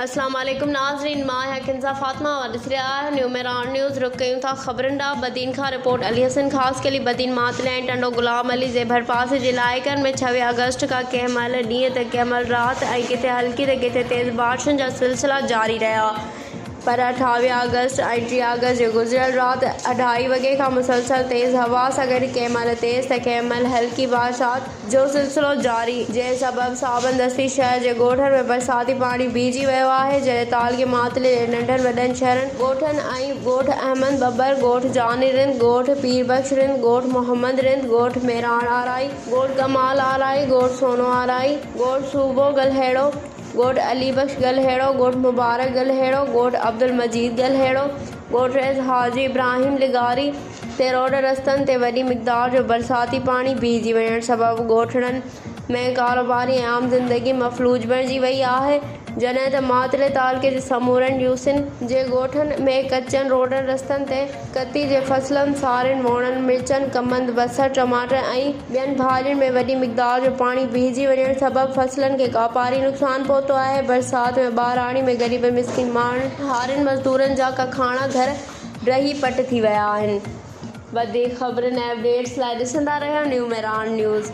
اسلام عليڪم ناظرين مان آهيان ڪنزا فاطمه اوهان ڏسي رهيا آهيون نيو ميراڻ نيوز رخ ڪيون ٿا خبرن ڏانهن بدين کان رپورٽ علي حسن خاصخيلي بدين ماتليائين ٽنڊو غلام علي زي ڀرپاسي جي علائقن ۾ ڇويهه آگسٽ کان ڪنهن مهل ڏينهن ته ڪنهن مهل رات ۽ ڪٿي هلڪي ته ڪٿي تيز بارشن جا سلسلا جاري رهيا پر اٺاويهه آگسٽ ۽ ٽيهه آگسٽ جي گذريل رات اڍائي وڳي کان مسلسل تيز هوا سان گڏ ڪنهن مهل تيز ته ڪنهن مهل هلڪي بارشات جو سلسلو جاري جنهن سبب صابن دستي شهر جي ڳوٺن ۾ برساتي پاڻي بيهجي ويو آهي جڏهن تعلقي ماتلي جي ننڍن وڏن شهرن ڳوٺن ۽ ڳوٺ احمد ٻٻر ڳوٺ جاني رند ڳوٺ پير بخش رند ڳوٺ محمد رند ڳوٺ ميراڻ آرائي ڳوٺ ڪمال آرائي ڳوٺ سونو آرائي ڳوٺ صوبو گلهيڙو ڳوٺ علي بخش ڳلهيڙو، ڳوٺ مبارڪ ڳلهيڙو، ڳوٺ عبدالمجيد ڳلهيڙو، ڳوٺ رئيس حاجي ابراهيم لغاري تي روڊ رستن تي وڏي مقدار جو برساتي پاڻي بيهجي وڃڻ سبب ڳوٺڙن ۾ ڪاروباري ۽ عام زندگي مفلوج بڻجي وئي آهي جڏهن ته ماتري تعلقي جي سمورن يوسين جي ڳوٺن ۾ ڪچن روڊن رستن تي ڪتي جي فصلن سارين ووڻن مرچن ڪمند بصر ٽماٽر ۽. ٻين ڀاڱن ۾ وڏي مقدار جو پاڻي بيهجي وڃڻ سبب فصلن کي ڪاپاري نقصان پهتو آهي، برسات ۾ ٻاراڻي ۾ غريب ۽ مسڪين ماڻهن، هارين مزدورن جا ڪکاڻا گهر ڊهي پٽ ٿي ويا آهن. وڌيڪ خبرن ۽ اپ ڊيٽس لاء ڏسندا رهيو نيو ميران نيوز.